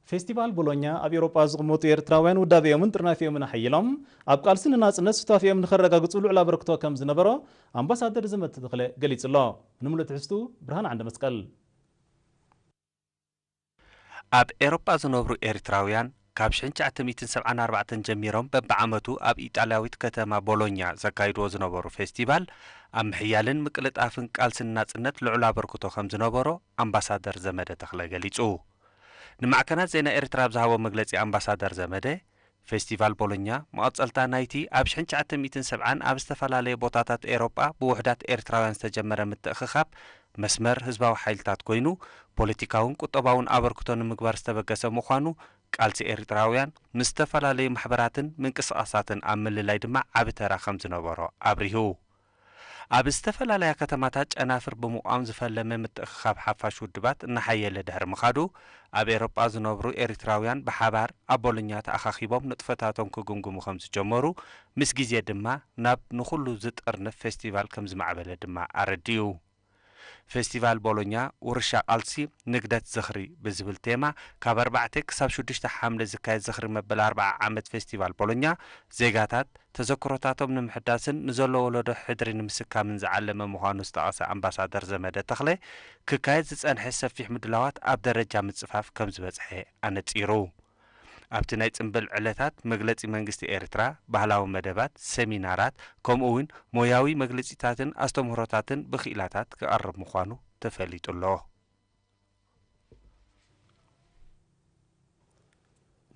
ፌስቲቫል ቦሎኛ ኣብ ኤውሮጳ ዝቕመጡ ኤርትራውያን ውዳቤኦምን ጥርናፌኦምን ኣሐይሎም ኣብ ቃልሲ ንናጽነት ሱታፌኦም ንኸረጋግጹ ልዑል ኣበርክቶ ከም ዝነበሮ ኣምባሳደር ዘመተ ተኽለ ገሊጹ ኣሎ። ንምሉእ ትሕዝትኡ ብርሃነ ዓንደመስቀል። ኣብ ኤሮጳ ዝነብሩ ኤሪትራውያን ካብ ሽሕን ትሽዓተ ሚእትን ሰብዓን ኣርባዕተን ጀሚሮም በብዓመቱ ኣብ ኢጣልያዊት ከተማ ቦሎኛ ዘካይድዎ ዝነበሩ ፌስቲቫል ኣብ ምሕያልን ምቅልጣፍን ቃልሲ ንናጽነት ልዑል ኣበርክቶ ከም ዝነበሮ ኣምባሳደር ዘመደ ተኽለ ገሊጹ። ንማዕከናት ዜና ኤርትራ ኣብ ዝሃቦ መግለጺ ኣምባሳደር ዘመደ፣ ፌስቲቫል ቦሎኛ መቐጸልታ ናይቲ ኣብ ሽሕን ትሽዓተ ሚእትን ሰብዓን ኣብ ዝተፈላለየ ቦታታት ኤሮጳ ብውሑዳት ኤርትራውያን ዝተጀመረ ምትእኽኻብ መስመር ህዝባዊ ሓይልታት ኮይኑ ፖለቲካውን ቁጠባውን ኣበርክቶ ንምግባር ዝተበገሰ ምዃኑ ቃልሲ ኤሪጥራውያን ምስ ዝተፈላለዩ ማሕበራትን ምንቅስቓሳትን ኣብ ምልላይ ድማ ዓቢ ተራ ከም ዝነበሮ ኣብሪሁ። ኣብ ዝተፈላለያ ከተማታት ጨናፍር ብምቛም ዝፈለመ ምትእኽኻብ ሓፋሽ ውድባት እናሓየለ ድሕሪ ምኻዱ ኣብ ኤሮጳ ዝነብሩ ኤሪትራውያን ብሓባር ኣብ ቦሎኛ ተኣኻኺቦም ንጥፈታቶም ክግምግሙ ከም ዝጀመሩ ምስ ግዜ ድማ ናብ ንኹሉ ዝጥርንፍ ፌስቲቫል ከም ዝማዕበለ ድማ ኣረዲኡ። ፌስቲቫል ቦሎኛ ውርሻ ቃልሲ ንግደት ዝኽሪ ብዝብል ቴማ ካብ ኣርባዕተ ክሳብ ሽዱሽተ ሓምለ ዝካየድ ዝኽሪ መበል ኣርብዓ ዓመት ፌስቲቫል ቦሎኛ ዜጋታት ተዘክሮታቶም ንምሕዳስን ንዘሎ ወለዶ ሕድሪ ንምስካምን ዝዓለመ ምዃኑ ዝጠቐሰ ኣምባሳደር ዘመደ ተኽለ ክካየድ ዝጸንሐ ሰፊሕ ምድላዋት ኣብ ደረጃ ምጽፋፍ ከም ዝበጽሐ ኣነጺሩ። ኣብቲ ናይ ጽምብል ዕለታት መግለጺ መንግስቲ ኤርትራ፣ ባህላዊ መደባት፣ ሰሚናራት፣ ከምኡ'ውን ሞያዊ መግልጺታትን ኣስተምህሮታትን ብክኢላታት ክቐርብ ምዃኑ ተፈሊጡ'ሎ።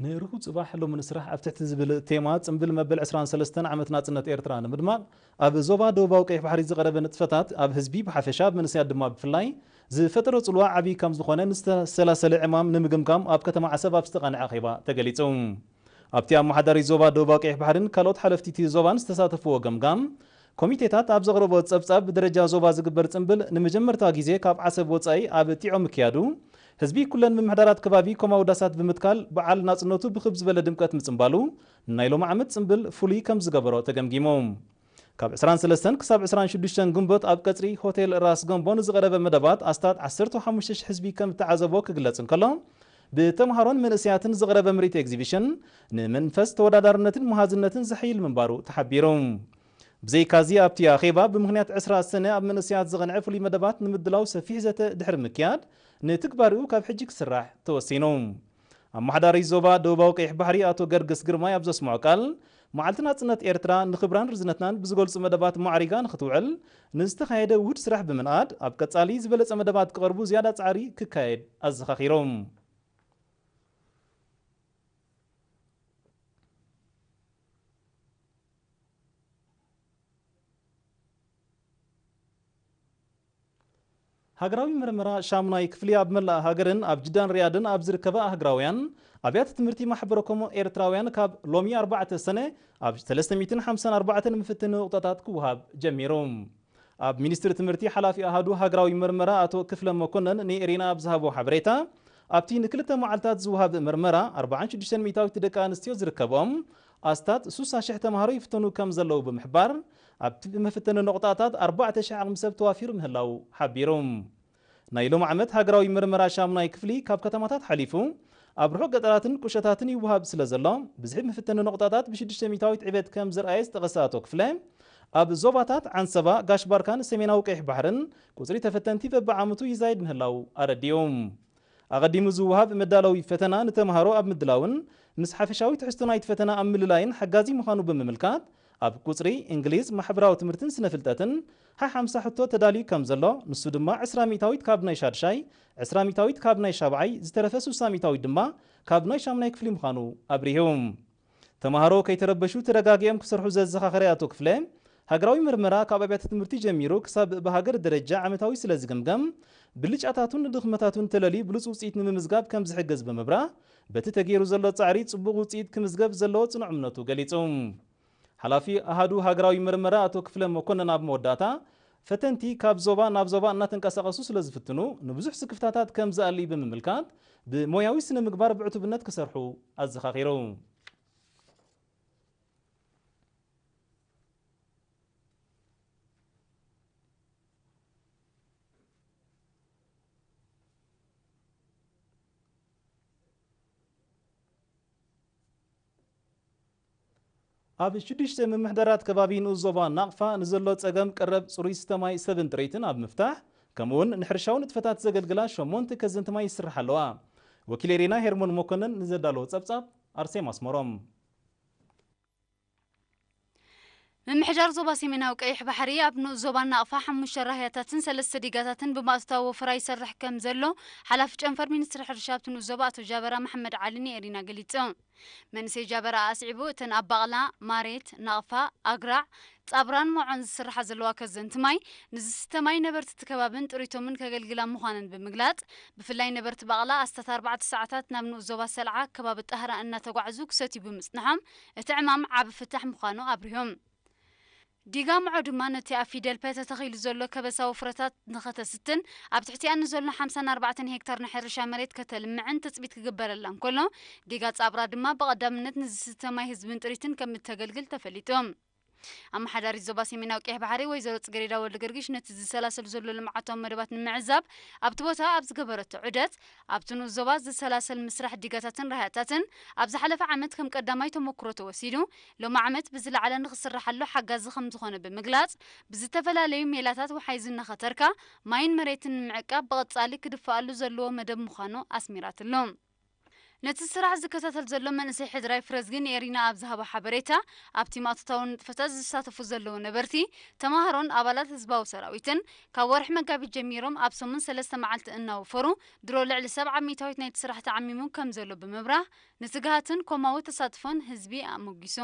ንርሁው ጽባሕ ሎሚ ንስራሕ ኣብ ትሕቲ ዝብል ቴማ ጽምብል መበል ዕስራን ሰለስተን ዓመት ናጽነት ኤርትራ ንምድማቕ ኣብ ዞባ ደቡባዊ ቀይሕ ባሕሪ ዝቐረበ ንጥፈታት ኣብ ህዝቢ ብሓፈሻ ኣብ መንእሰያት ድማ ብፍላይ ዝፈጠሮ ጽልዋ ዓብዪ ከም ዝኾነ ንዝተሰላሰለ ዕማም ንምግምጋም ኣብ ከተማ ዓሰብ ኣብ ዝተቓንዐ ኣኼባ ተገሊጹ። ኣብቲ ኣመሓዳሪ ዞባ ደቡባዊ ቀይሕ ባሕሪን ካልኦት ሓለፍቲ'ቲ ዞባን ዝተሳተፍዎ ገምጋም ኮሚቴታት ኣብ ዘቕረቦ ጸብጻብ ብደረጃ ዞባ ዝግበር ጽምብል ንመጀመርታ ግዜ ካብ ዓሰብ ወጻኢ ኣብ ጢዖ ምክያዱ ህዝቢ ኩለን ምምሕዳራት ከባቢ ኮማዊ ዳሳት ብምትካል በዓል ናጽነቱ ብክብ ዝበለ ድምቀት ምጽምባሉ ንናይ ሎሚ ዓመት ጽምብል ፍሉይ ከም ዝገበሮ ተገምጊሙ። ካብ ዕስራን ሰለስተን ክሳብ ዕስራን ሽዱሽተን ግንቦት ኣብ ቀጽሪ ሆቴል ራስ ገምቦ ንዝቐረበ መደባት ኣስታት ዓሰርተው ሓሙሽተ ሽሕ ህዝቢ ከም እተዓዘቦ ክግለጽ እንከሎ፣ ብተምሃሮን መንእሰያትን ዝቐረበ ምርኢት ኤግዚቪሽን ንመንፈስ ተወዳዳርነትን መሃዝነትን ዘሐይል ምንባሩ ተሓቢሩ። ብዘይካዚ ኣብቲ ኣኼባ ብምኽንያት ዕስራ ሰነ ኣብ መንእሰያት ዝቐንዐ ፍሉይ መደባት ንምድላው ሰፊሕ ዘተ ድሕሪ ምክያድ ንትግባሬኡ ካብ ሕጂ ክስራሕ ተወሲኑ። ኣመሓዳሪ ዞባ ደቡባዊ ቀይሕ ባሕሪ ኣቶ ገርግስ ግርማይ ኣብ ዘስመዖ ቃል፣ መዓልቲ ናጽነት ኤርትራ ንክብራን ርዝነትናን ብዝገልጹ መደባት ማዕሪጋ ንኽትውዕል ንዝተኻየደ ውሁድ ስራሕ ብምንኣድ፣ ኣብ ቀጻሊ ዝበለጸ መደባት ክቐርቡ ዝያዳ ጻዕሪ ክካየድ ኣዘኻኺሮም። ሃገራዊ መርመራ ሻሙናይ ክፍሊ ኣብ መላእ ሃገርን ኣብ ጅዳን ሪያድን ኣብ ዝርከባ ኣህግራውያን ኣብያተ ትምህርቲ ማሕበረ ኮሞ ኤርትራውያን ካብ ሎሚ ኣርባዕተ ሰነ ኣብ ሰለስተ ሚእትን ሓምሳን ኣርባዕተን ምፍትኒ ንቑጣታት ክወሃብ ጀሚሩ። ኣብ ሚኒስትሪ ትምህርቲ ሓላፊ ኣሃዱ ሃገራዊ መርመራ ኣቶ ክፍለ መኮነን ንኤሪና ኣብ ዝሃቦ ሓበሬታ ኣብቲ ንክልተ መዓልታት ዝወሃብ መርመራ ኣርብዓን ሽዱሽተን ሚእታዊት ደቂ ኣንስትዮ ዝርከብኦም ኣስታት ሱሳ ሽሕ ተማሃሮ ይፍተኑ ከም ዘለዉ ብምሕባር ኣብቲ ብመፈተኒ ነቑጣታት ኣርባዕተ ሽሕ ዓቕሚ ሰብ ተዋፊሩ ምህላዉ ሓቢሩ። ናይ ሎሚ ዓመት ሃገራዊ ምርመራ ሻሙናይ ክፍሊ ካብ ከተማታት ሓሊፉ ኣብ ርሑቕ ገጠራትን ቁሸታትን ይወሃብ ስለዘሎ ብዝሒ መፈተኒ ነቑጣታት ብሽዱሽተ ሚእታዊት ዕቤት ከምዘርኣየ ዝጠቐሰ ኣቶ ክፍለ ኣብ ዞባታት ዓንሰባ፣ ጋሽ-ባርካን ሰሜናዊ ቀይሕ ባሕርን ቁጽሪ ተፈተንቲ በብዓመቱ ይዛይድ ምህላዉ ኣረዲኡ። ኣቐዲሙ ዝወሃብ መዳለዊ ፈተና ንተመሃሮ ኣብ ምድላውን ምስ ሓፈሻዊ ትሕዝቶ ናይቲ ፈተና ኣብ ምልላይን ሓጋዚ ምዃኑ ብምምልካት፣ ኣብ ቁጽሪ፣ እንግሊዝ፣ ማሕበራዊ ትምህርትን ስነ-ፍልጠትን ሓሓምሳ ሕቶ ተዳልዩ ከም ዘሎ፣ ንሱ ድማ ዕስራ ሚእታዊት ካብ ናይ ሻድሻይ፣ ዕስራ ሚእታዊት ካብ ናይ ሻብዓይ፣ ዝተረፈ ስሳ ሚእታዊት ድማ ካብ ናይ ሻሙናይ ክፍሊ ምዃኑ ኣብሪሁ። ተማሃሮ ከይተረበሹ ተረጋጊኦም ክሰርሑ ዘዘኻኸረ ኣቶ ክፍለ፣ ሃገራዊ መርመራ ካብ ኣብያተ ትምህርቲ ጀሚሩ ክሳብ ብሃገር ደረጃ ዓመታዊ ስለ ዝግምገም፣ ብልጫታቱን ድኽመታቱን ተለልዩ ብሉጽ ውጽኢት ንምምዝጋብ ከም ዝሕግዝ ብምብራህ፣ በቲ ተገይሩ ዘሎ ፃዕሪ ፅቡቕ ውፅኢት ክምዝገብ ዘለዎ ፅኑዕ እምነቱ ገሊፁ። ሓላፊ ኣሃዱ ሃገራዊ ምርመራ ኣቶ ክፍለ መኮነን ኣብ መወዳእታ፣ ፈተንቲ ካብ ዞባ ናብ ዞባ እናተንቀሳቐሱ ስለዝፍትኑ ንብዙሕ ስክፍታታት ከምዝኣልይ ብምምልካት፣ ብሞያዊ ስነ ምግባር ብዕቱብነት ክሰርሑ ኣዘኻኺሩ። ኣብ ሽዱሽተ ምምሕዳራት ከባቢ ንኡስ ዞባ ናቕፋ ንዘሎ ፀገም ቀረብ ፅሩይ ዝስተ ማይ ሰብን ጥሪትን ኣብ ምፍታሕ ከምኡ እውን ንሕርሻዊ ንጥፈታት ዘገልግላ ሸሞንተ ከዘንቲ ማይ ይስርሓ ኣለዋ። ወኪል ኤሪና ሄርሞን መኮነን ንዘዳለዎ ፀብፃብ ኣርሴማ ኣስመሮም። ምምሕዳር ዞባ ሰሜናዊ ቀይሕ ባሕሪ ኣብ ንኡስ ዞባ ናቕፋ ሓሙሽተ ራህያታትን ሰለስተ ዲጋታትን ብምኣታዊ ወፈራ ይሰርሕ ከም ዘሎ ሓላፊ ጨንፈር ሚኒስትሪ ሕርሻ ኣብቲ ንኡስ ዞባ ኣቶ ጃበራ መሓመድ ዓሊ ንኤሪና ገሊጹ። መንእሰይ ጃበራ ኣስዒቡ እተን ኣብ ባቕላ፣ ማሬት፣ ናቕፋ፣ ኣግራዕ፣ ጻብራን ሞዖን ዝስርሓ ዘለዋ ከዘንቲ ማይ ንዝስተ ማይ ነበርቲ እቲ ከባብን ጥሪቶምን ከገልግላ ምዃነን ብምግላጽ ብፍላይ ነበርቲ ባቕላ ኣስታት ኣርባዕተ ሰዓታት ናብ ንኡስ ዞባ ሰልዓ ከባቢ ጣህራ እናተጓዕዙ ክሰትዩ ብምጽንሖም እቲ ዕማም ዓቢ ፍታሕ ምዃኑ ኣብሪሆም። ዲጋ ምዖ ድማ ነቲ ኣብ ፊደል ፐ ተተኺሉ ዘሎ ከበሳዊ ፍረታት ንኸተስትን ኣብ ትሕቲኣን ንዘሎ ሓምሳን ኣርባዕተን ሄክታር ናይ ሕርሻ መሬት ከተልምዕን ትጽቢት ክግበረላ እንከሎ፣ ዲጋ ጻብራ ድማ ብቐዳምነት ንዝስተ ማይ ህዝብን ጥሪትን ከምእተገልግል ተፈሊጡ። ኣመሓዳሪት ዞባ ሰሜናዊ ቀይሕ ባሕሪ ወይዘሮ ጽጌሬዳ ወልደገርግሽ ነቲ ዝሰላሰል ዘሎ ልምዓታዊ መደባት ንምዕዛብ ኣብቲ ቦታ ኣብ ዝገበረቶ ዑደት፣ ኣብቲ ንኡስ ዞባ ዝሰላሰል ምስራሕ ዲጋታትን ራህያታትን ኣብ ዝሓለፈ ዓመት ከም ቀዳማይ ተሞኩሮ ተወሲዱ ሎሚ ዓመት ብዝለዓለ ንኽስራሓሉ ሓጋዚ ከምዝኾነ ብምግላጽ፣ ብዝተፈላለዩ ሜላታት ወሓይዝ እናኸተርካ ማይን መሬትን ንምዕቃብ ብቐጻሊ ክድፋኣሉ ዘለዎ መደብ ምዃኑ ኣስሚራትሉ። ነቲ ስራሕ ዝከታተል ዘሎ መንእሰይ ሕድራይ ፍረዝጊ ንኤሪና ኣብ ዝሃቦ ሓበሬታ፣ ኣብ ቲማቶታዊ ንጥፈታት ዝሳተፉ ዘለዉ ነበርቲ፣ ተማሃሮን ኣባላት ህዝባዊ ሰራዊትን፣ ካብ ወርሒ መጋቢት ጀሚሮም ኣብ ሰሙን ሰለስተ መዓልቲ እናወፈሩ ድሮ ልዕሊ ሰብዓ ሚእታዊት ናይቲ ስራሕ ተዓሚሙ ከምዘሎ ብምብራህ፣ ንትግሃትን ኮማዊ ተሳትፎን ህዝቢ ኣሞጊሱ።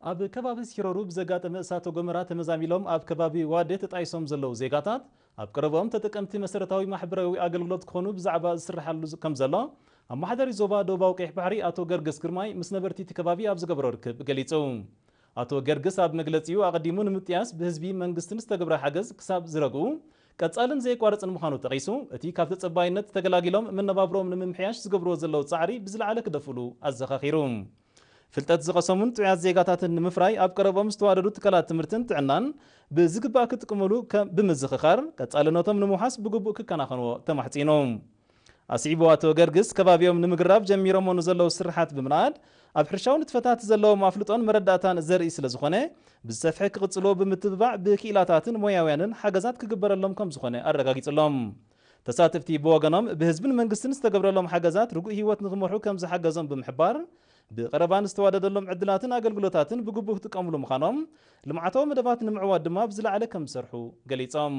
ኣብ ከባቢ ሲሮሩ ብዘጋጠመ እሳተ ጎመራ ተመዛሚሎም ኣብ ከባቢ ዋዴ ተጣይሶም ዘለዉ ዜጋታት ኣብ ቀረብኦም ተጠቀምቲ መሰረታዊ ማሕበራዊ ኣገልግሎት ክኾኑ ብዛዕባ ዝስርሓሉ ከምዘሎ ኣመሓዳሪ ዞባ ደቡባዊ ቀይሕ ባሕሪ ኣቶ ገርግስ ግርማይ ምስ ነበርቲ እቲ ከባቢ ኣብ ዝገበሮ ርክብ ገሊጹ። ኣቶ ገርግስ ኣብ መግለጺኡ ኣቐዲሙ ንምጥያስ ብህዝቢ መንግስትን ዝተገብረ ሓገዝ ክሳብ ዝረግኡ ቀጻልን ዘየቋርጽን ምዃኑ ጠቒሱ እቲ ካብ ተጸባይነት ተገላጊሎም መነባብሮኦም ንምምሕያሽ ዝገብርዎ ዘለዉ ጻዕሪ ብዝለዓለ ክደፍእሉ ኣዘኻኺሩ ፍልጠት ዝቐሰሙን ጥዑያት ዜጋታትን ንምፍራይ ኣብ ቀረብኦም ዝተዋደዱ ትካላት ትምህርትን ጥዕናን ብዝግባእ ክጥቅምሉ ከም ብምዝኽኻር ቀጻልነቶም ንምውሓስ ብግቡእ ክከናኸንዎ ተማሕጺኑ። ኣስዒቡ ኣቶ ገርግስ፣ ከባቢኦም ንምግራብ ጀሚሮሞ ንዘለዉ ስርሓት ብምንኣድ፣ ኣብ ሕርሻዊ ንጥፈታት ዘለዎም ኣፍልጦን መረዳእታን ዘርኢ ስለዝኾነ፣ ብዝሰፍሐ ክቕጽልዎ ብምትብባዕ ብክኢላታትን ሞያውያንን ሓገዛት ክግበረሎም ከምዝኾነ ኣረጋጊጽሎም። ተሳተፍቲ ብወገኖም፣ ብህዝብን መንግስትን ዝተገብረሎም ሓገዛት ርጉእ ህይወት ንክመርሑ ከምዝሓገዞም ብምሕባር፣ ብቐረባ ንዝተዋደደሎም ዕድላትን ኣገልግሎታትን ብግቡእ ክጥቀምሉ ምዃኖም፣ ልምዓታዊ መደባት ንምዕዋት ድማ ብዝለዓለ ከምዝሰርሑ ገሊጾም።